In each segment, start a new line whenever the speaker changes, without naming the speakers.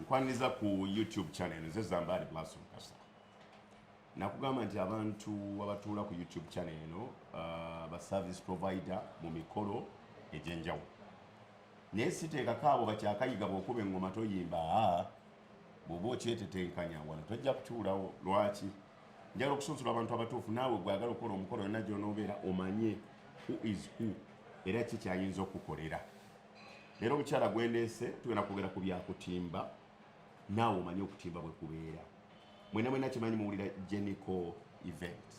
nkwaniriza ku youtube channel nze zambaali blaso mukasa nakugamba nti abantu abatuula ku youtube channel eno uh, ba service provider mu mikolo egyenjawulo naye siteekako abo bakyakayiga bwokuba engoma toyimba bwoba okyetetenkanya wano tojja kutuulawo lwaki njagala okusunsula abantu abatuufu naawe gwagala okukola omukolo yonna gyonoobeera omanye who is who era ki kyayinza okukukolera leero omukyala gwendeese tugenda kwogera ku byakutimba naawe omanye okutimba bwe kubeera mwena mwena kimanyi muwulira genico event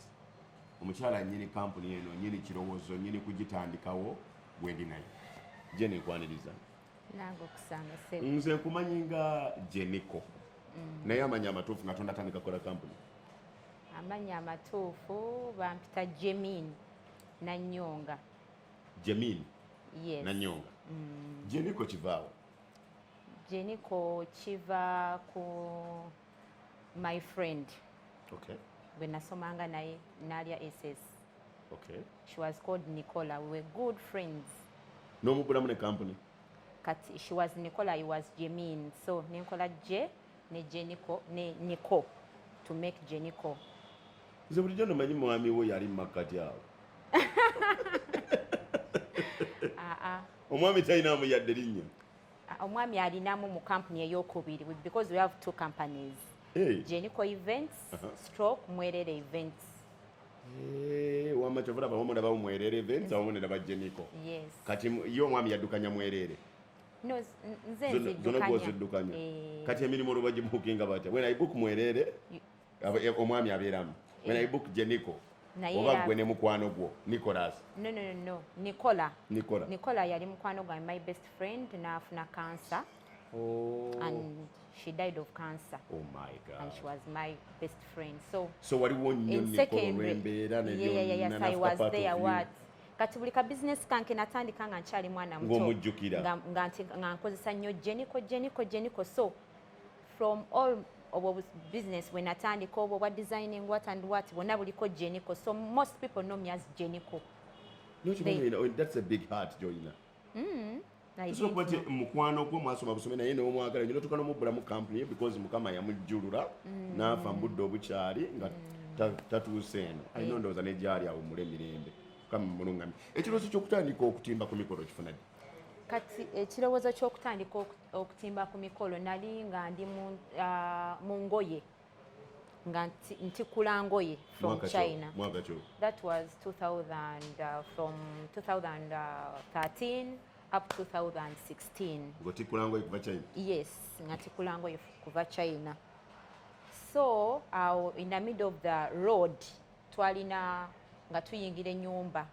omukyala nyini kampuni eno nyini kirowoozo nyini kugitandikawo gwendi naye gyenikwaniriza nange
okusanga sebo nze nkumanyi nga
jeniko mm. naye amanya amatuufu nga tonda tandika kola kampuni amanya
amatuufu bampita jemin nanyonga
jemin yes.
nanyonga mm.
jeniko kivaawo jeniko
kiva ku my friend okay.
bwe nasomanga
naye nalya ss okay.
she was called
nicola we were good friends n'omugulamu
ne kampuni kati she
was nicola i was jemin so nenkola je ne jenico ne nico to make jenico nze
bulijjo nomanyi mwami wo yali mumakkati awo ah, ah. omwami talinamu yadde linnya ah, omwami
alinamu mu kampuni eyokubiri because we have two companies hey. jenico
events
uh -huh. stroke mwerere events
Eh, wama kyovula bawomo na bawumwerere venza womo ne nabajje niko yes. kati
yo omwami
yaddukanya mwerere
no, zona gwoziddukanya
eh. kati emirimu olwo bagibukinga batya when i book mwerere eh, omwami abeeramu when i book jeniko oba gwe ne mukwano gwo nicolas no, no, no, no.
nicola nicola nicola
yali mukwano
gwange my best friend naafuna kansa Oh.
And
she died of cancer. Oh my God. And she
was my
best friend. So, so waliwo nnyo in
secondary, yeah, yeah, yeah, yes, I was
there, what? kati buli ka bizinesi kanke natandika nga nkyali mwana mutomujjukira
nga nkozesa
nnyo jeniko jeniko jeniko so from all obwo business bwe natandika obwo bwa designing what and what bwonna buliko jeniko so most people know me as jeniko
no, they, that's a big heart joina mm. Sio kuba nti mukwano gwo mwasoma busome naye ne omwagala nyino tukana mubbula mu company because mukama yamujjulula mm. n'afa mu budde obukyali nga mm. tatuuse eno alina mm. ndowooza ne gyali awo mule mirembe mukama mulungami ekirowoozo ky'okutandika okutimba ku mikolo kifuna ddi kati
ekirowoozo ky'okutandika okutimba ku mikolo nali nga ndi mu ah, ngoye nga ntikula ngoye from china that
was 2000
uh, from 2013 up 2016 ngotikula ngoye kuva
china yes nga tikula
ngoye kuva china so awo in the middle of the road twalina nga tuyingira enyumba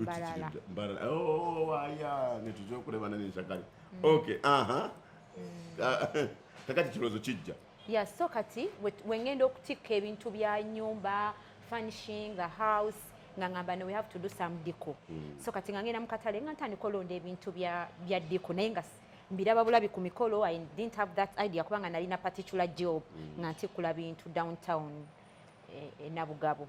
mbarara mbarara oh
aya nituja okuleba nani nshakali mm. okay aha mm. Ah, kakati kirozo kijja ya so kati
wengenda okutikka ebintu bya nyumba furnishing a house nga ngamba we have to do some diko mm. so kati nga ngenda mu katale nga ntandika olonda ebintu bya bya diko naye nga mbiraba bulabi ku mikolo i didn't have that idea kubanga nalina particular job mm. nga ntikula bintu downtown e, e nabugabo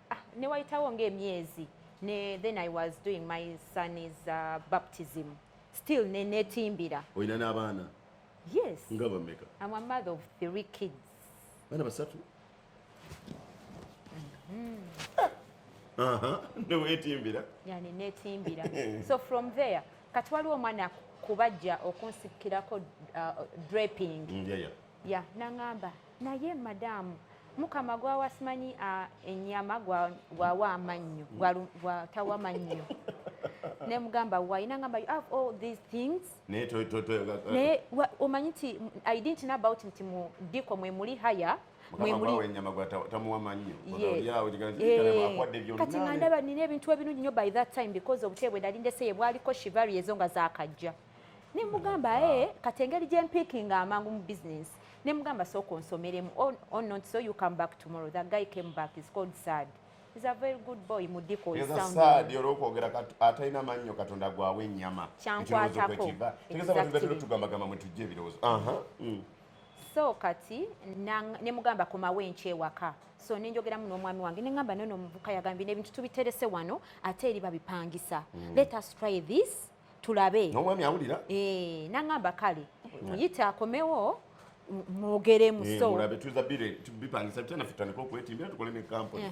ah, ne wayitawo ng'emyezi ne then i was doing my son is uh, baptism still ne netimbira olina n'abaana
yes nga
bameka am
a mother of
three kids bana basatu
mm-hmm. newetimbira yani netimbira
so from there kati waliwo omwana kubajja okunsikirako uh, draping mm, yeah, yeah. yeah, nangamba naye madaamu mukama gwawa simanyi enyama gwawa amannyo gwatawa mannyo nemugamba wayina ngamba you have all these things naye omanyi nti i didn't know about nti mu diko mwe muli haya kati nga ndaba nina ebintu ebinungi nyo by that time because obutebe bwe nali ndeseye bwaliko shivari ezo nga zakajja ne mugamba ah. ee eh, kati engeri gye mpiikinga amangu mu bizinensi ne mugamba sooka onsomeremu oh, oh not so you come back tomorrow the guy came back is called sad is a very good boy mudiko sad yoro kwogera
kati ataina manyo katonda gwawe enyama kyankwata ko
tegeza abantu betero
tugamba gamba mwe tujje birozo aha mm.
so kati ne mugamba koma wenche waka so ne njogera muno omwami wange ne ngamba nono muvuka yagambi ne bintu tubiterese wano ate eri babipangisa mm. let us try this tulabe n'omwami awulira
eh, nangamba
kale muyite akomewo mwogeremu eh, so mulabe tuza
bipangisa bitya naffe tutandika okwetimbira tukole ne kampuni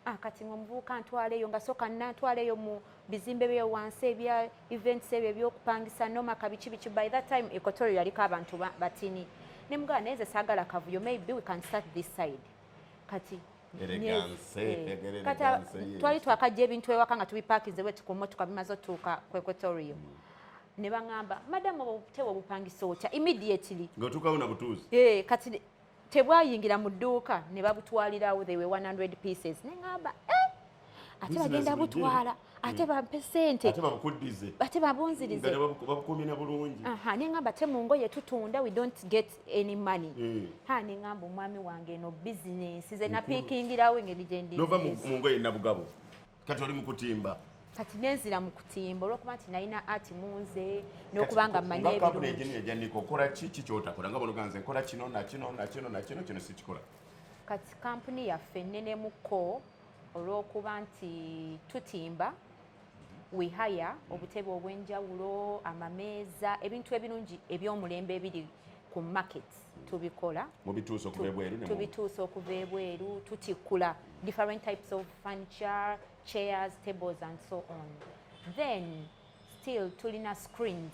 Ah, kati
mwe mubuuka ntwaleyo nga soka nantwaleyo mu bizimbe bye wansi ebya events ebyo ebyokupangisa noma kabiki biki by that time equatorial yaliko abantu batini ne mugana neze sagala kavuyo maybe we can start this side kati twali twakajja ebintu ewaka nga tubipakinze wetu ku motoka bimaze otuuka ku equatorio mm. ne baŋamba madamu obutebe obupangisa otya immediately ngaotuukawo na butuuzi
eh, kati
tebwayingira mu dduuka ne babutwalirawo they were 100 pieces ne ŋamba eh! ate bagenda butwala ate hmm. bampe sente ate babukuddize ate babunzirize babukuumye na bulungi
aha nengamba te mu
ngoye tutunda we don't get any money hmm. ha nengamba omwami wange eno bizinensi ze napiikingirawo engeri gyendi nova mu ngoye
nabugabo kati oli mu kutimba kati nenzira
mu kutimba olwokuba nti nalina ati munze nokuba nga mmanyiebirungijaniko
okola ki ki kyotakola nga bonoganze nkola kino nakino nakino nakino kino sikikola kati
kampuni yaffe nnenemuko olw'okuba nti tutimba we hire obutebe obw'enjawulo amameeza ebintu ebirungi eby'omulembe ebiri ku market tubikola tubituusa okuva ebweru tutikkula different types of furniture chairs tables and so on then still tulina screens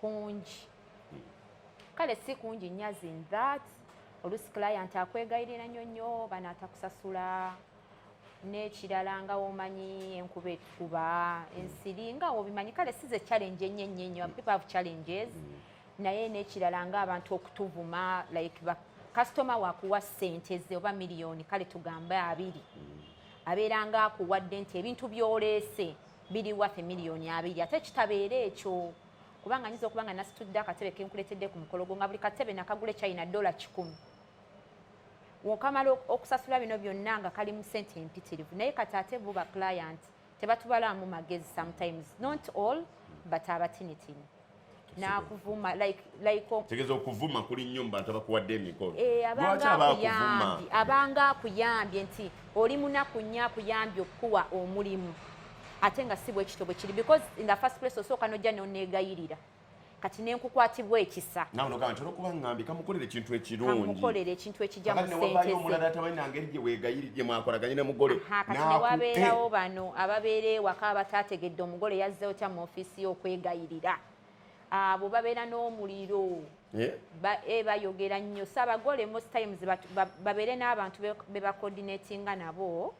kungi kale si kungi nyazi in that olusi client akwegayirira nnyo nnyo bana atakusasula n'ekirala nga womanyi enkuba etukuba ensiri nga wobimanyi kale si ze challenge ennyo ennyo ennyo people have challenges mm. naye n'ekirala nga abantu okutuvuma like kasitoma wakuwa ssente ze oba miliyoni kale tugambe abiri mm. abeera nga akuwadde nti ebintu byoleese biri worth million abiri ate kitabeera ekyo kubanga nyinza okuba nga nasitudde akatebe kenkuletedde ku mukolo gwo nga buli katebe nakagula china dola kikumi wokamala okusasula bino byonna nga kali mu sente empitirivu naye kati ate bo ba client tebatubalamu magezi sometimes not all but abatinitini nakuvuma like like tegeza okuvuma
kuli nnyo mu bantu abakuwadde emikolo eh, lwaki abakuvuma
abanga akuyambye nti oli munaku nnyo akuyambye okukuwa omulimu ate nga si bwekityo bwe kiri because in the first place osooka nojja noneegayirira kati nenkukwatibwa ekisa nawe nogamba nti olwokuba
ngambi kamukolera ekintu ekirungi kamukolera ekintu ekijja
mu sente omulala tabalina
ngeri gye weegayiri gye mwakolaganye ne mugole kati newabeerawo
bano ababeera ewaka abataategedde omugole yazze otya mu office si okwegayirira abo babeera n'omuliro eh, bayogera nnyo so abagole most times babeere n'abantu be bacoordinatinga nabo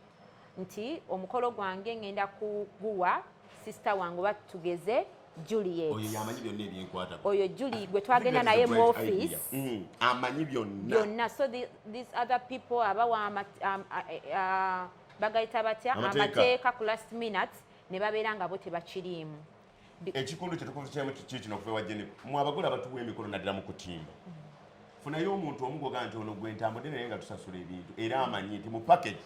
nti omukolo gwange ngenda kuguwa sisita wange oba tugeze Juliet oyo yamanyi byonna
ebyenkwata oyo Julie gwe
twagenda naye mu office mm, amanyi
byonna byonna so the, these
other people abawa um, uh, uh, uh, bagayita batya amateeka ku last minute ne babeera nga bo tebakiriimu ekikundu
kyetukuvukyemu kiki kino okuva ewa jennifer mwe abagole abatuwa emikolo naddala mu kutimba funayo omuntu omugoga nti ono gwe ntambudde naye nga tusasula ebintu era amanyi nti mu package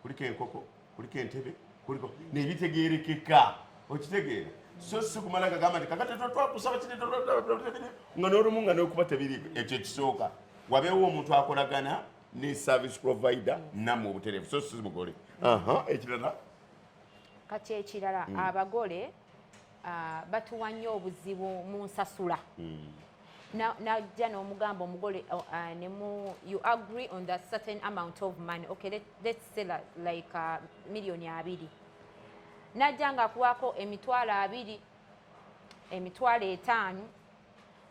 kuliko enkoko kuliko entebe kuliko nebitegerekeka okitegeera so si kumala gagamba nti kakati twakusaba kiri nga n'olumu nga nokuba tebiri ekyo ekisooka wabeewo omuntu akolagana ne service provider namwe obutereevu so si mugole ekirala
kati
ekirala mm.
abagole
uh,
batuwa nnyo obuzibu mu nsasula mm. najja n'omugamba omugole uh, uh, nemu you agree on the certain amount of money okay let, let's say like uh, millioni abiri najja nga akuwako emitwalo abiri emitwalo etaano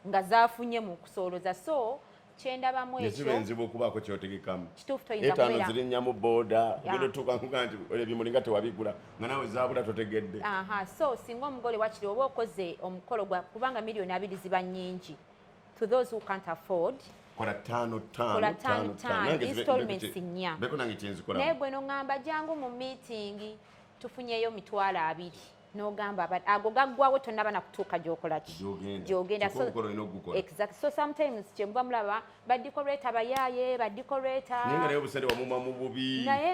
nga zafunye mu kusooloza so kyendaba mu ekyo ziba enzibu okubaako
kyotegekamu kituufu toyinza kubeera etaano
ziri nnya mu booda
ogenda otuuka nkuga nti ebimuli nga tewabigula nga nawe zaabula totegedde aha so singa
omugole wakiri oba okoze omukolo gwa kubanga miliyoni abiri ziba nnyingi to those who can't afford kola tano
tano kola tano tano installments
nnya beko nange kyenzikola naye
gwe no ngamba
jangu mu meeting tufunyeyo mitwalo abiri nogamba but ago gaggwawo tonaba nakutuuka gyokolaki gyogenda exactly so sometimes kyemuba mulaba badikoreta bayaye badikoretaye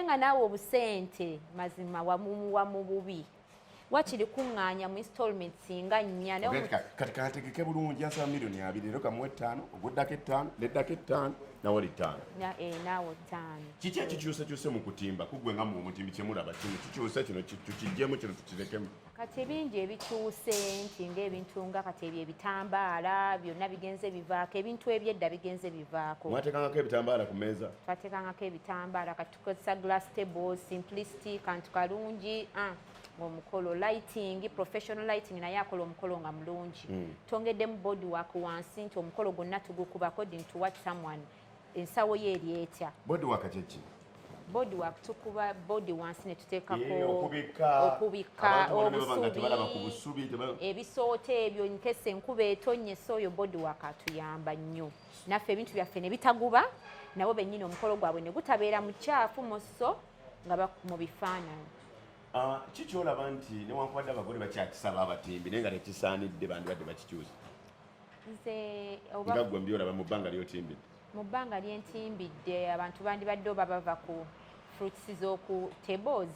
nga naawe
obusente mazima wamumuwa mu bubi wakiri kuŋŋaanya mu installment singa nnya kati kantegeke
bulungi asaba milioni abiri lero kamuwa ettaano oguddako ettaano neddako ettaano nawe oli ttaano eh, naawe ttaano
kiki ekikyusekyuse
mu kutimba kuggwe nga mu omutimbi kyemulaba kino kikyuse kino tukigyemu kino tukirekemu kati ebingi
ebikyuse nti ngaebintu nga kati ebyo ebitambaala byonna bigenze bivaako ebintu ebyedda bigenze bivaako mwatekangako ebitambaala ku
meeza twatekangako ebitambaala
kati tukozesa glass tables simplicity kantu kalungi ah, omukolo lighting professional lighting naye akola omukolo nga mulungi mm. tongeddemu board work wansi nti omukolo gwonna tugukuba according to what someone ensawo ye eri etya board work kyeki
body work
tukuba body wansi ne tuteekako okubikka
obusubi
ebisooto ebyo nkese enkuba etonye so oyo body work atuyamba nnyo naffe ebintu byaffe ne bitaguba nabo bennyini omukolo gwabwe ne gutabeera mu kyafu mu sso nga mu bifaananyi ah,
kikyolaba nti newankubadde abagole bakyakisaba abatimbi naye nga tekisaanidde bandibadde bakikyusa nze nga gwe mbyolaba mu bbanga lyotimbidde mu bbanga
lyentimbidde abantu bandibadde oba bava ku fruits z'oku tables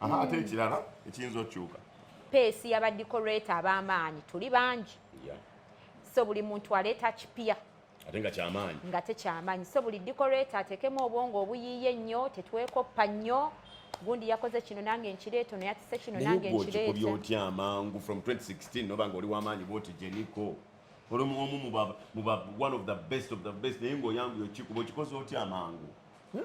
aha ate ekirala ekiyinza okyuka peesi
yabadikoreeta ab'amaanyi tuli bangi so buli muntu aleeta kipya ate nga kyamaanyi
nga tekyamaanyi so
buli dikoreeta ateekemu obwongo obuyiiye ennyo tetwekoppa nnyo gundi yakoze kino nange nkireeto naye atise kino nange nkireeto otya amangu
from 2016 noba nga oli wamaanyi bwoti jeniko oli omu muba one of the best of the best naye ngaoyanguye okikuba okikoze otya amangu hmm?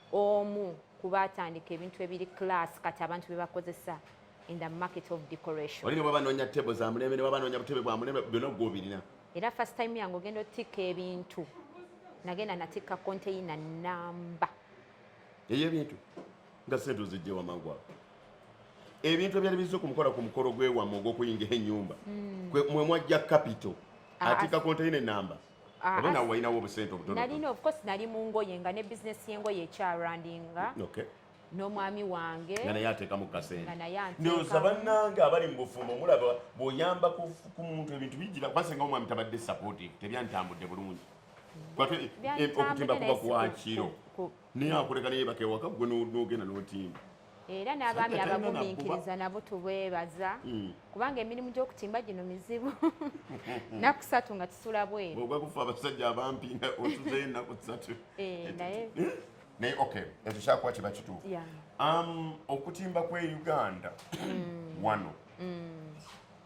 omu kubaatandika ebintu ebiri class kati abantu bebakozesa in the market of decoration olina baba nonya table
za mulembe ne baba nonya butebe bwa mulembe byona gwo birina era first time yange
ogenda otikka ebintu nagenda natikka container namba eyo
ebintu nga sente ozijje wamangwa ebintu ebyali bizze okumukola ku mukolo gwewamwe ogwokuyingira ennyumba hmm. mwe mwajja capital atika container namba Ah, oba nawe walinawo obusente obutnalina ofcourse nali mu
ngoye nga ne bizinesi y'engoye ekyarandinga
n'omwami
wange nga naye ateekamu
kasentendyoza
bannange
abali mu bufumbo mulaba bw'oyamba ku muntu ebintu bijjira kubasa nga omwami tabadde supportive tebyantambudde bulungi eh, okutimba kuba kwakiro naye akuleka naye bakewaka gwe n'ogenda n'otimba era n'abaami
abagumiikiriza nabo tubeebaza hmm. kubanga emirimu gy'okutimba gino mizibu naku satu nga kisula bweru ogwa kufa abasajja
abampi nga otuzeyo enaku satu eh, naye eh? naye ok ekyo kyakuba kiba kituufu um, okutimba kwe uganda hmm. wano hmm.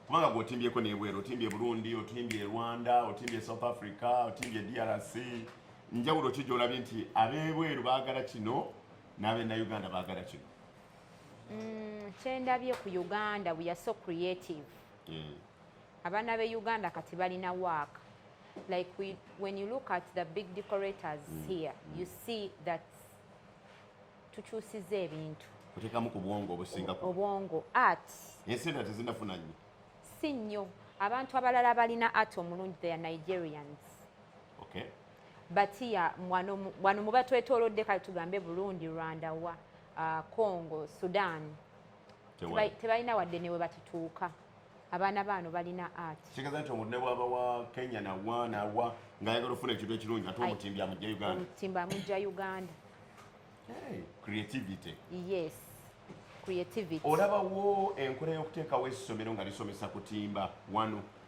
kubanga gweotimbyeko nebweru otimbye burundi otimbye rwanda otimbye south africa otimbye drc njawulo ki gyolabye nti abebweru baagala kino n'abennauganda baagala kino mm, kyendabye
ku uganda we are so creative mm. abaana be uganda kati balina waaka like we, when you look at the big decorators mm. here mm. you see that tukyusiza ebintu otekamu ku bwongo
obusinga obwongo art
ensente tezinafuna
nnyo si nnyo
abantu abalala balina art omulungi they are nigerians okay
batiya
wano muba twetolodde kale tugambe burundi rwanda wa uh, congo sudan tebalina wadde newe bakituuka abaana baano balina ati kigeza nti omuntu nebwaba
wa kenya nawa nawa ngaayagala okufuna ekintu ekirungi ate omutimbi amujja uganda omutimbi amujja
uganda
creativity yes
creativity olabawo
enkola y'okuteekawo essomero nga lisomesa kutimba wano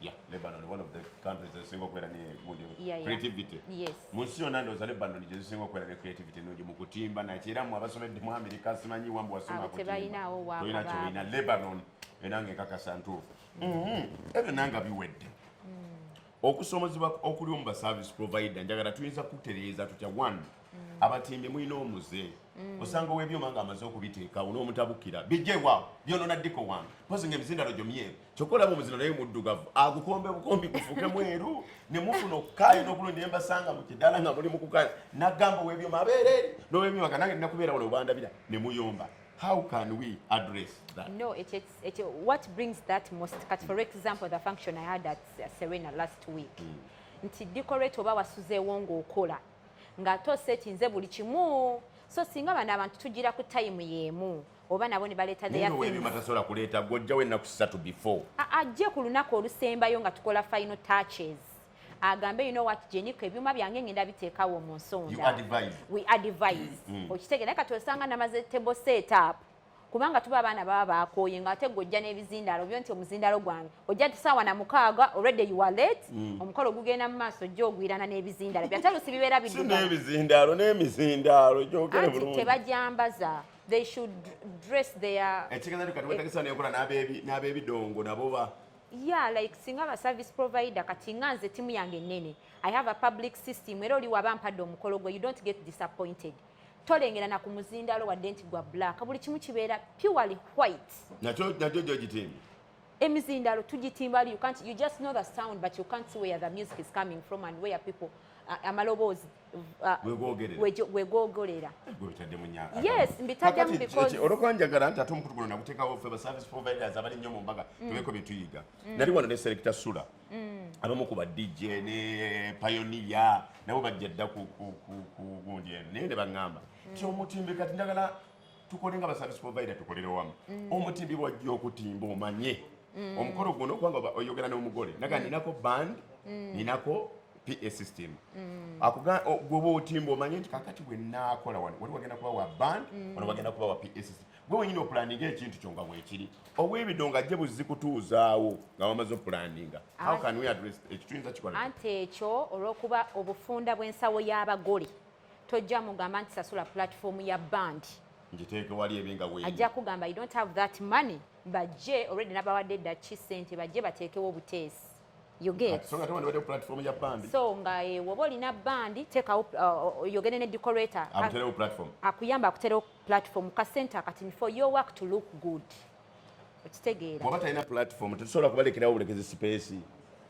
Yeah,
Lebanon one of the countries ezisinga okubeera ne gundi yeah, yeah. creativity yes. mu nsi yonna
ndowooza
Lebanon gye zisinga okubeera ne creativity ennungi mu kutimba nakyo era mu abasomedde mu Amerika simanyi wambu wasoma kutimbatolina
kyolina Lebanon
enange nkakasa ntuufu mm-hmm. ebyo nanga biwedde mm. okusomozebwa okuli omu ba service provider njagala tuyinza kutereeza tutya one mm. abatimbi mulina omuze mm. osanga owebyuma nga amaze okubiteekawo n'omutabukira bijjewa byonona ddiko wange mpozi nga emizindalo gyo myeru kyokka olaba omuzino naye muddugavu agukombe bukombi kufuke mweru ne mufuna okukaaya n'okulungi ne mbasanga mu kidaala nga muli mu kukaaya nagamba ow'ebyo mabeere eri n'ow'emyaka nange nnakubeera wano obandabira ne muyomba how can we address that no it, it, it,
what brings that most cut for example the function i had at uh, serena last week mm. nti decorate oba wasuzeewo ng'okola ng'ate osetinze buli kimu so singa bano abantu tugira ku tayimu y'emu oba nabo ne baleeta theyaebyuma tasobola kuleeta
gwojjawo ennaku satu before ajje ku lunaku olusembayo
nga tukola final touches agambe you know what jeniko ebyuma byange ngenda biteekawo mu nsonda we
advise
mm. okitegera naye kati osanga namaze table set up kubanga tuba abaana baba bakooye nga ate gwojja n'ebizindaalo byo nti omuzindaalo gwange ojja ti saawa na mukaaga already you are late mm. omukolo ogugenda mu maaso ojja ogwirana n'ebizindaalo byatalusi bibeera bidunaebizindaalo n'emizindaalo
gyogera bulungi tebajambaza
they should dress their ekitegeeza nti kati wetegesa
nekola n'abebidongo nabo ba yeah like
singa ba service provider kati nga nze timu yange nene i have a public system era oli waba mpadde omukolo gwe you don't get disappointed tolengera na ku muzindalo wadde nti gwa black buli kimu kibeera purely white nakyo nakyo
gyogitimbi emizindalo
tugitimba you can't you just know the sound but you can't see where the music is coming from and where people uh, amaloboozi wegogolera yes mbitaddemu because olwokuba njagala nti ate omukutu
guno naguteekawo ffe ba service providers abali nnyo mu mbaga mm. tubeeko bye tuyiga mm. nali wano ne selecta sula mm. abamu ku ba dj ne payoniya nabo bajja dda ku gundi eno naye ne baŋŋamba ti omutimbekati njagala tukole nga baservice provider tukolere wamu mm. omutimbi wajja okutimba omanye mm. omukolo guno kubanga oyogera n'omugole naga mm. ninako band mm. ninako pa system mm. gwoba otimba omanye nti kakati bwenakola wano wali wagenda kuba wa band mm. wano wagenda kuba wa pa system gwe wenyini opulaninga ekintu kyo nga bwekiri obwebido nga jje buzzi kutuuzaawo nga wamaze opulaninga how can we address ekyo tuyinza kikola anti ekyo
olwokuba obufunda bw'ensawo y'abagole tojja mugamba nti sasula platform ya band ngiteeke wali
ebe nga weeri ajja kugamba you don't have
that money bajje already nabawadde dda ki sente bajje bateekewo obuteesi
so nga eh, woba
olina bandi tekawo uh, uh, yogende ne decorator
akuyamba akuterewo
platform ka center akatini for your work to look good okitegeera waba talina
platform tetusobola kubalekerawo bulekezi sipeesi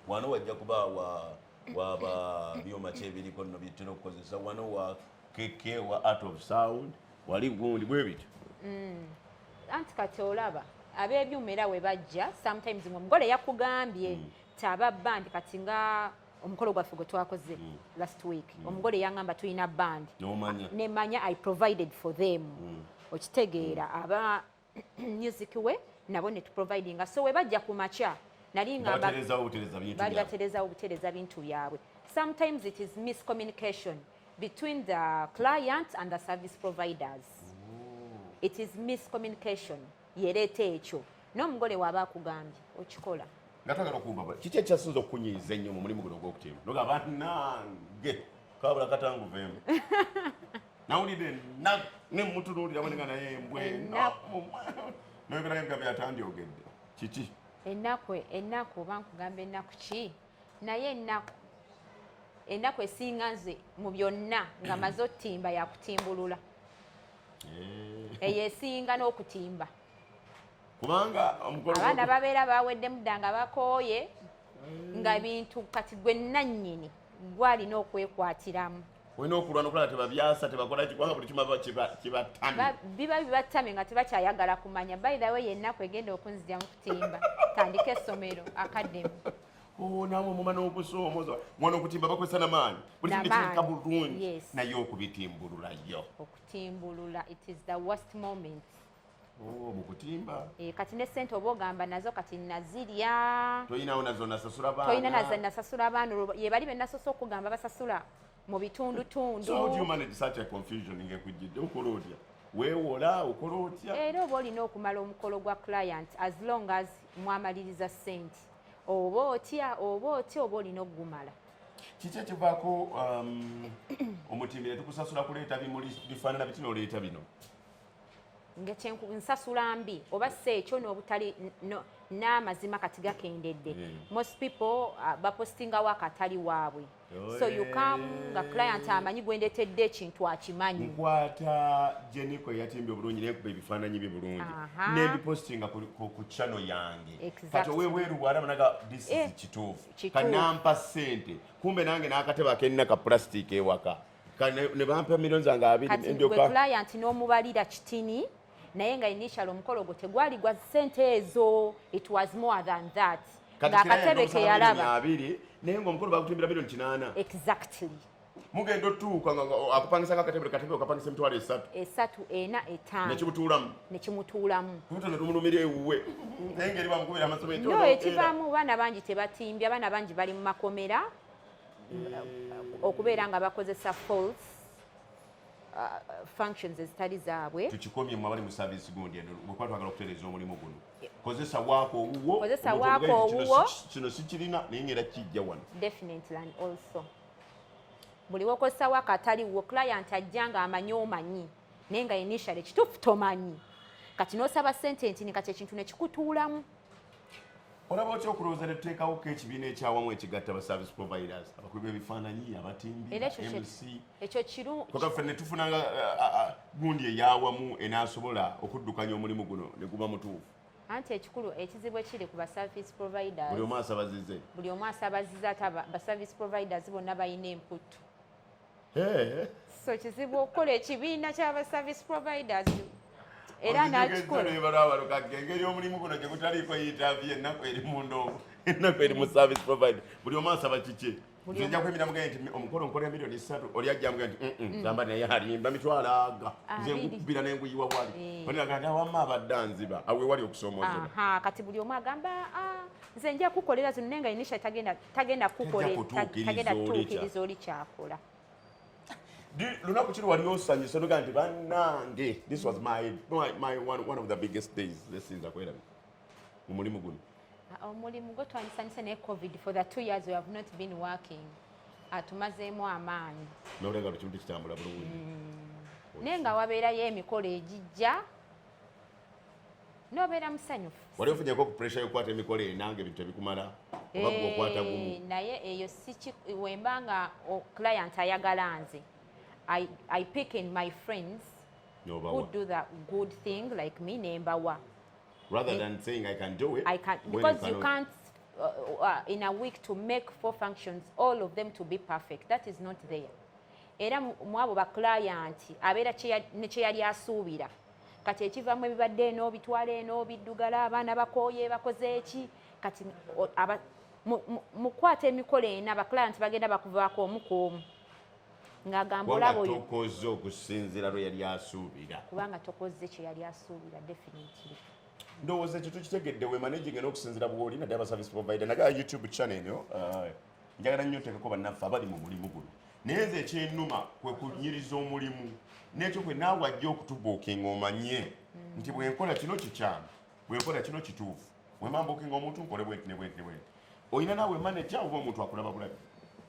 wano wajja kuba wa waba byuma ki ebiriko nno byetutera okukozesa wano wa keke wa art of sound wali gundi bwe bityo mm.
anti kati olaba ab'ebyuma era we bajja sometimes ng'omugole yakugambye mm. taba bandi kati nga omukolo gwaffe gwe twakoze mm. last week mm. omugole yangamba tulina band nemanya i provided for them mm. okitegeera aba music we nabo ne tuprovidinga so webajja ku makya nali ngambabali batereza obutereza bintu byabwe sometimes it is miscommunication between the client and the service providers Ooh. it is miscommunication yereeta ekyo n'omugole waaba akugambye okikola nga twagala okumbaba
kiki ekyasinza okunyiiza ennyo mu mulimu guno ogw'okuteema noga banange kabula katanguvemu nawulidde ennaku ne mutunuulira bwenenga naye embwe noyogerayo nga byatandyogedde kiki ennaku
ennaku oba nkugamba ennaku ki naye ennaku ennaku esinga nze mu byonna nga maze otimba yakutimbulula eh. eyo esinga n'okutimba
kubanga abaana
babeera baweddemu dda nga bakooye eh. nga bintu kati gwe nannyini gwalina okwekwatiramu olina okulwana
okulaba tebabyasa tebakola kikubanga buli kimu kibatame biba bibatame
nga tebakyayagala kumanya bayirawe yennaku egenda okunzija mu kutimba tandika essomero akademi oh, nawe
omuma n'okusoomoza mwana okutimba bakozesa namaanyi buli kintu kirika bulungi naye okubitimbululayo okutimbulula
it is the worst moment Oh,
mukutimba e, eh, kati ne
sente oba ogamba nazo kati nazirya toyinawo nazo
nasasula baana toyina nazo nasasula
baana yebali benasosa okugamba basasula mu bitundu tundu so how do you manage such
a confusion ngekujjidde okola otya wewola okola otya era oba olina okumala
omukolo gwa client as long as mwamaliriza sente oba otya oba otya oba olina okugumala kiki
ekivaako um, omutimbire tukusasula kuleeta bimuli bifaanana bitinoleeta bino
nsasula mbi oba si ekyo n'obutali n'amazima kati gakendedde hmm. most people uh, bapostingawo akatali waabwe oh, so you come nga client amanyi gwendetedde ekintu akimanyi nkwata
jeniko eyatimbye obulungi nekuba ebifaananyi bye bulungi nebipostinga ku chano yange kati owebweru bwalabanaga this is eh, kituufu kanampa sente kumbe nange n'akatebe akenina ka plastic ewaka nebampa million zange abiriwetulaya nti
n'omubalira kitini naye nga initial omukolo gwo tegwali gwa sente ezo it was more than that ng'akatebe keyalaba abiri naye ngaomukolo
bagutumbira million kinaana exactly
mugenda
otuuka nga akupangisa nga akatebe katebe okapangisa emitwalo esatu esatu ena
etaano nekimutuulamu nekimutuulamu
kubuto netumulumira ewuwe naye ngeri bamukubira amasomo no ekivaamu baana
bangi tebatimbye abaana bangi bali mu makomera okubeera nga bakozesa false uh, functions ezitali zaabwe tukikomye mu abali mu service
gundi eno bwekuba twagala okutereeza omulimu guno kozesa waako owuwo kozesa waako owuwo kino sikirina naye ngaera kijja wano definitely and
also buli wokozesa waako atali wuwo client ajja nga amanyi omanyi naye nga initially kituufu tomanyi kati n'osaba sente ntini kati ekintu nekikutuulamu
olaba otya okulowooza ne tuteekawo ko ekibiina ekyawamu ekigatta ba service providers abakubi b'ebifaananyi abatimbiokaffe
ne tufunanga
gundi eyawamu enaasobola okuddukanya omulimu guno ne guba mutuufu anti ekikulu
ekizibu ekiri ku baservice providers buli omu asabazize buli
omu asabazize ate
baservice providers bonna balina emputtu so kizibu okukola ekibiina kyaba service providers era nakikolaengeri
omulimu guno gyegutaliiko yitaavi ennaku eri mundongo ennaku eri mu service provider buli omu asaba kiki nja kwemira mugaye nti omukolo nkolera milioni satu oli ajja mugaye nti mm, mm, zamba naye alimba mitwalo aga nze nkubbira naye nkuyiwa wali eh. oniraga nti wamma abadde anziba awe wali okusoomoozebwa kati buli omu agamba
ah, nze nja kukolera zino naye nga inisha tagenda tagenda kukukoletagenda kutuukiriza oli kyakola
lunaku kiri wali osanyuse nogaa nti banange this was my, my, my one, one of the biggest days lesinza kwerabi mu mulimu guno ah, omulimu gwe
twanyisanyuse naye covid for the two years we have not been working atumazeemu amaanyi nolenga lukimu
tikitambula bulungi mm. naye
nga wabeerayo emikolo egijja nobeera musanyufu wali ofunyeko ku pressure
yokukwata emikolo enanga ebintu tebikumala oba gwe okwata eh, gumu naye eyo siki
wemba nga client ayagala nze I, I pick in my friends no, who do the good thing like me nembawa rather than
saying I can do it I can, because you, you can't
uh, uh, in a week to make four functions all of them to be perfect that is not there era mwabo ba client abeera ne kyeyali asuubira kati ekivamu ebibadde eno bitwala eno biddugala abaana bakooye bakoze eki kati mukwata emikolo ena abaclienti bagenda bakuvaako omu ku omu ng'agamba olaba oyo tokoze okusinzira
lwe yali asuubira kubanga tokoze
kye yali asuubira definitely ndowooza ekyo
tukitegedde wemanaging n'okusinzira bw'oli naddala ba service provider naga youtube channel eno uh, njagala nnyo nteekeko bannaffe abali mu mulimu guno naye nze ekyenuma kwe kunyiriza omulimu n'ekyo kwe naawe ajja okutubuukinga omanye mm. nti bwenkola kino kikyamu bwenkola kino kituufu wemambuukinga omuntu nkole bwenti ne bwenti ne bwenti olina naawe maneja oba omuntu
akulaba
bulabi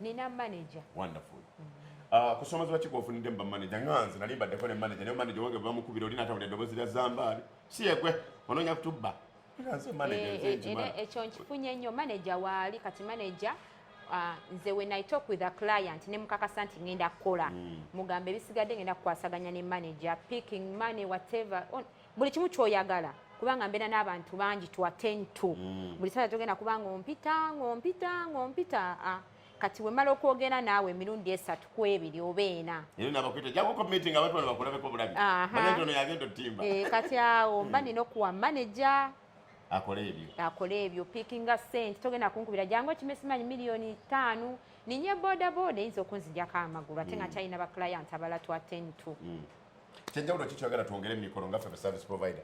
nina maneja
wonderful
mm. ah, kusoma ziba kikofunidde mu bamaneja nga nze nali mbaddeko ne maneja naye maneja wange bamukubira oli natawulira eddoboozi lya zambaali si yegwe onoonya kutubba Eh, eh, ekyo
nkifunye nnyo maneja waali kati maneja ah, nze when i talk with a client ne mukakasa nti ngenda kukola hmm. mugamba ebisigadde ngenda kukwasaganya ne manager picking money whatever buli kimu kyoyagala kubanga mbeera n'abantu bangi to attend to hmm. buli saa togenda kubanga ompita ngaompita ngaompita ah. kati wemala okwogera naawe emirundi esatu ku ebiri oba ena
eh, kati awo
mba nina okuwa maneja
akola ebyo pikinga
sente togenda kunkubira jangu ekimesimanyi miliyoni taano ninye bodaboda eyinza okunzijako amagulu ate nga mm. kyalina baclient abala twa ten to mm. kyenjawulo
kikyogera twongere mumikolo nga fe service provider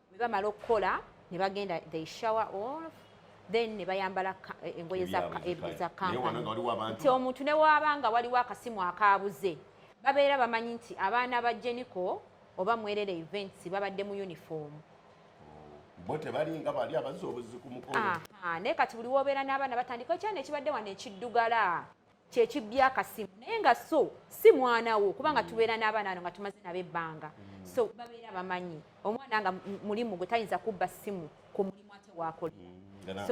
bwe bamala okukola ne bagenda they shower off then ne bayambala eh, engoye za kampani omuntu ne waaba nga waliwo akasimu akaabuze babeera bamanyi nti abaana ba jeniko oba mwerere events babadde mu uniform
bo tebalinga bali abazi obuzi ku mukolo naye kati buli
wobeera n'abaana batandika ekyana ekibadde wano ekiddugala kyekibya akasimu naye nga so si mwana wo kubanga tubeera n'abaana ano nga tumaze nabo ebbanga mm. so babeera bamanyi omwana nga mulimu gwe tayinza kubba simu ku mulimu ate wakolera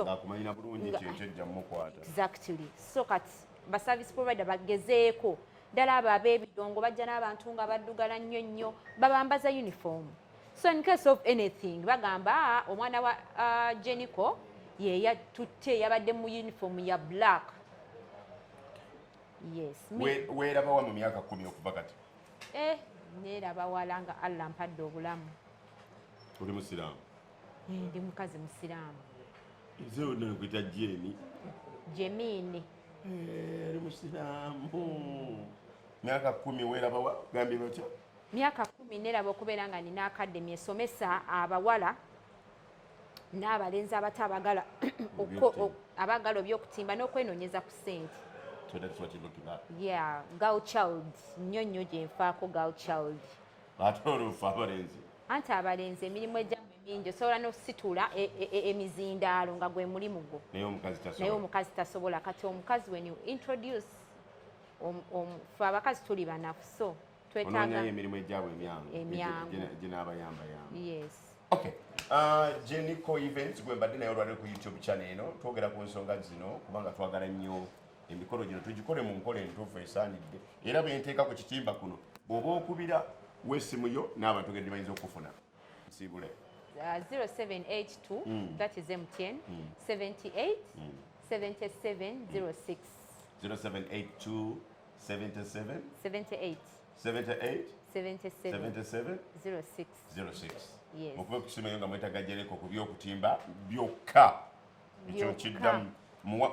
exactly so
kati baservice provider bagezeeko ddala abo ab'ebidongo bajja n'abantu nga baddugala nnyo nnyo babambaza uniform so in case of anything bagamba ah, omwana wa ah, jenico yeyatutte yabadde mu uniform ya black yes me werabawa mu
myaka kumi okuva kati eh
neraba wala nga allah mpadde obulamu oli
musiraamu eh, ndi
mukazi musiraamu nze
wonna nkwita jeni jemini eh, oli musiraamu myaka kumi werabawa gambye batya myaka kumi
neraba okubeera nga nina akademi esomesa abawala n'abalenzi abato abagala abagala obyokutimba n'okwenonyeza ku sente yeah girl child nnyo nnyo gyenfaako girl child ate oluufu
abalenzi anti abalenzi
emirimu egyamu emingi osobola n'okusitula e, e, e, emizindaalo nga gwe mulimu gwo naye omukazi tasobola kati omukazi when you introduce fe abakazi tuli banafu so onoonyayo emirimu
egyabwe emyangu ginaabayambayamba
okay
uh, jenico events gwe mbadde naye olwaliro ku youtube channel eno twogera ku nsonga zino kubanga twagala nnyo emikolo gino tugikole mu nkola entuufu esaanidde era benteeka ku kitimba kuno bw'oba okubira wesimu yo n'abantu gedde bayinza okufuna nsiibule 0782 mm.
that is mtn mm. 78 mm. 7706
0782 77 78 78 77 77 06 06
yes
okube kusimayo nga mwetaga jereko ku byokutimba byokka ekyo kiddamu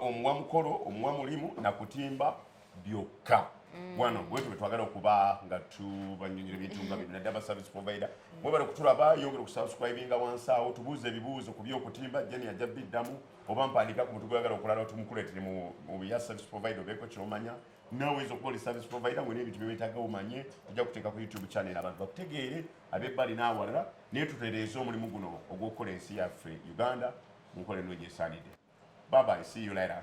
omuwa mukolo omuwa mulimu na kutimba byokka mm. wano bwetu bwetwagala okuba nga tubanyonyera ebintu nga bino naddala service provider mwebale kutulaba yongera okusubscribinga wansi awo tubuuza ebibuuzo ku byokutimba jeni ajja biddamu oba mpandiika ku muntu gweyagala okulala tumukuleetere mu bya service provider obeeko kyomanya nawe oyinza okuba oli service provider ngolina ebintu byewetaaga omanye ojja kuteeka ku youtube channel abantu bakutegeere abebbali n'awalala naye tutereeze omulimu guno ogw'okukola ensi yaffe uganda mu nkola eno gyesaanidde babai see you later